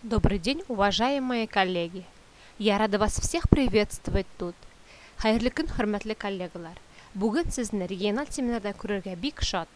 Добрый день, уважаемые коллеги! Я рада вас всех приветствовать тут! Хәерле көн, хөрмәтле коллегалар! Бүген сезне региональ семинарда күрергә бик шат!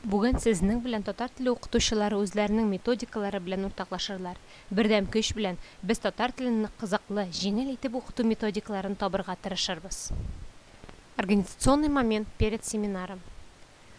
Бүген сезнең белән татар теле укытучылары үзләренең методикалары белән уртаклашырлар. Бердәм көч белән без татар телен нык кызыклы, җиңел итеп укыту методикаларын табырга тырышырбыз. Организационный момент перед семинаром.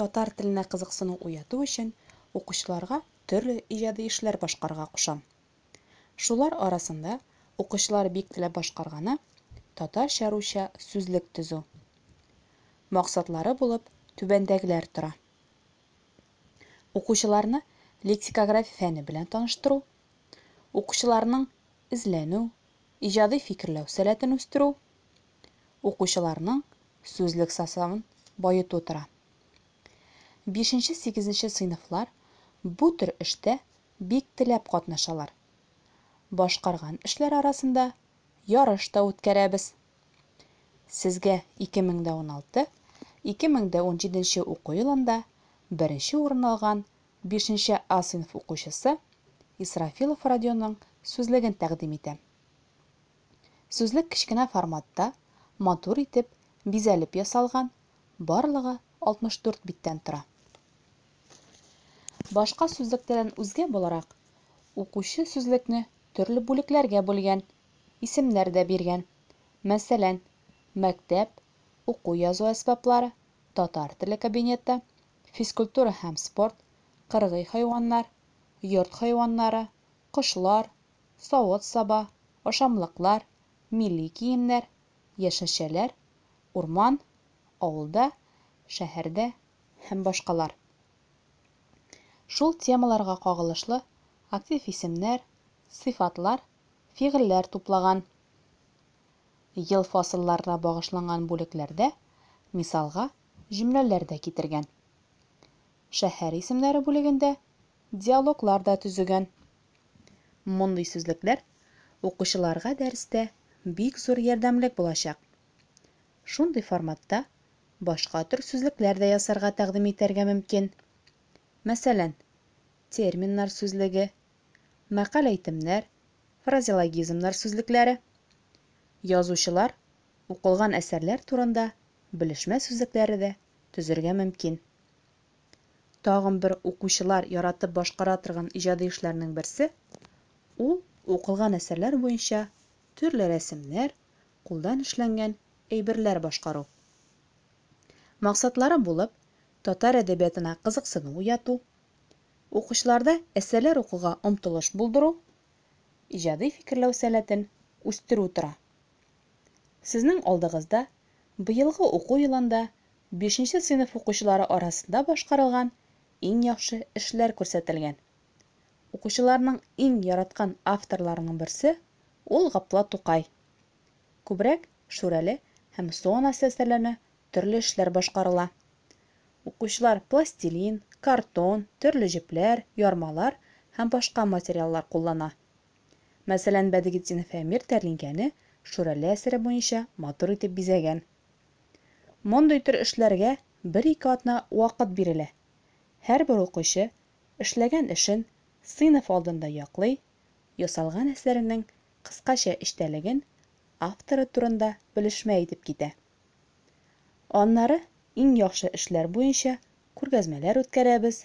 Татар теленә кызыксыну уяту өчен укучыларга төрле иҗади эшләр башкарырга кушам. Шулар арасында укучылар бик теләп башкарганы, татарча-русча сүзлек төзү. Максатлары булып түбәндәгеләр тора. Укучыларны лексикография фәне белән таныштыру, укучыларның эзләнү, иҗади фикерләү сәләтен үстерү, укучыларның сүзлек составын баету тора. Бишенче-сигезенче сыйныфлар бу төр эштә бик теләп катнашалар. Башкарган эшләр арасында ярыш та үткәрәбез. Сезгә 2016, 2017 нче уку елында беренче урын алган бишенче А сыйныф укучысы Исрафилов Родионның сүзлеген тәкъдим итәм. Сүзлек кечкенә форматта, матур итеп, бизәлеп ясалган, барлыгы 64 биттән тора. Башка сүзлекләрдән үзгә буларак, укучы сүзлекне төрле бүлекләргә бүлгән, исемнәр дә биргән. Мәсәлән, мәктәп, уку-язу әсбаплары, татар теле кабинеты, физкультура һәм спорт, кыргый хайваннар, йорт хайваннары, кошлар, савыт-саба, ашамлыклар, милли киемнәр, яшелчәләр, урман, авылда, шәһәрдә һәм башкалар. Шул темаларга кагылышлы актив исемнәр, сыйфатлар, фигыльләр туплаган. Ел фасылларына багышланган бүлекләрдә, мисалга, җөмләләр дә китергән. Шәһәр исемнәре бүлегендә диалоглар да төзегән. Мондый сүзлекләр укучыларга дәрестә бик зур ярдәмлек булачак. Шундый форматта башка төр сүзлекләр дә ясарга тәкъдим итәргә мөмкин. Мәсәлән, терминнар сүзлеге, мәкаль-әйтемнәр, фразеологизмнар сүзлекләре. Язучылар укылган әсәрләр турында белешмә сүзлекләре дә төзергә мөмкин. Тагын бер укучылар яратып башкара торган иҗади эшләрнең берсе, ул укылган әсәрләр буенча төрле рәсемнәр, кулдан эшләнгән әйберләр башкару. Максатлары булып, татар әдәбиятына кызыксыну уяту, укучыларда әсәрләр укуга омтылыш булдыру, иҗади фикерләү сәләтен үстерү тора. Сезнең алдыгызда быелгы уку елында бишенче сыйныф укучылары арасында башкарылган иң яхшы эшләр күрсәтелгән. Укучыларның иң яраткан авторларының берсе, ул Гапла Тукай. Күбрәк Шүрәле һәм Су анасы әсәрләренә төрле эшләр башкарыла. Укучылар пластилин, картон, төрле җепләр, ярмалар һәм башка материаллар куллана. Мәсәлән, Бәдретдинов Әмир тәлинкәне Шүрәле әсәре буенча матур итеп бизәгән. Мондый төр эшләргә бер-ике атна вакыт бирелә. Һәрбер укучы эшләгән эшен сыйныф алдында яклый, ясалган әсәрнең кыскача эчтәлеген, авторы турында белешмә әйтеп китә. Аннары иң яхшы эшләр буенча күргәзмәләр үткәрәбез,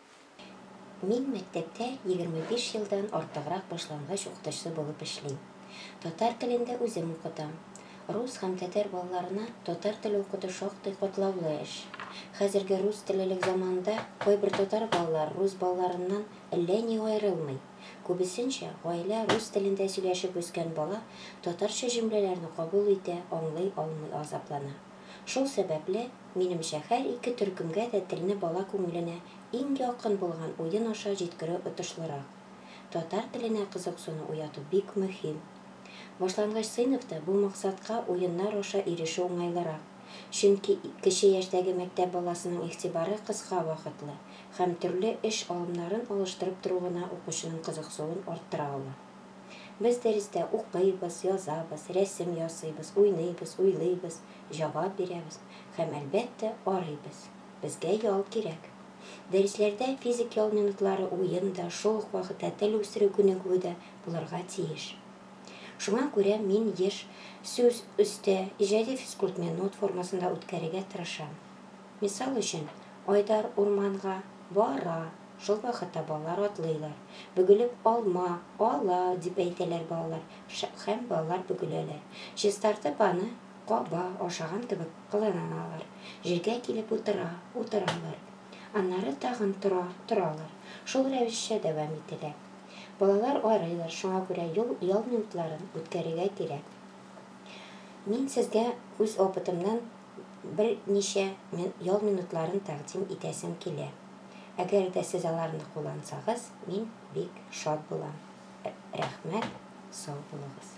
Мин мәктәптә егерме биш елдан артыграк башлангыч укытучысы булып эшлим. Татар телен дә үзем укытам. Рус һәм татар балаларына татар теле укыту шактый катлаулы эш. Хәзерге рус теллелек заманында кайбер татар балалары рус балаларыннан әллә ни аерылмый. Күбесенчә, гаилә рус телендә сөйләшеп үскән бала татарча җөмләләрне кабул итә, аңлый алмый азаплана. Шул сәбәпле, минемчә, һәр ике төркемгә дә телне бала күңеленә иң якын булган уен аша җиткерү отышлырак. Татар теленә кызыксыну уяту бик мөһим. Башлангыч сыйныфта бу максатка уеннар аша ирешү уңайлырак, чөнки кече яшьтәге мәктәп баласының игътибары кыска вакытлы һәм төрле эш алымнарын алыштырып тору гына укучының кызыксуын арттыра ала. Без дәрестә укыйбыз, язабыз, рәсем ясыйбыз, уйныйбыз, уйлыйбыз, җавап бирәбез һәм, әлбәттә, арыйбыз. Безгә ял кирәк. Дәресләрдә физик ял минутлары уен да, шул ук вакытта тел үстерү күнегүе дә булырга тиеш. Шуңа күрә мин еш сүз өстә, иҗади физкультминут формасында үткәрергә тырышам. Мисал өчен, Айдар урманга ба-ра, шул вакытта балалар атлыйлар. Бөгелеп алма, а-ла, дип әйтәләр балалар ша һәм балалар бөгеләләр. Чистартып аны ка-ба ашаган кебек кыланалар. Җиргә килеп утыра, утыралар. Аннары тагын тора, торалар. Шул рәвешчә дәвам ителә. Балалар арыйлар, шуңа күрә юл ял минутларын үткәрергә кирәк. Мин сезгә үз опытымнан берничә ял минутларын тәкъдим итәсем килә. Әгәр дә сез аларны куллансагыз, мин бик шат булам. Рәхмәт, сау булыгыз.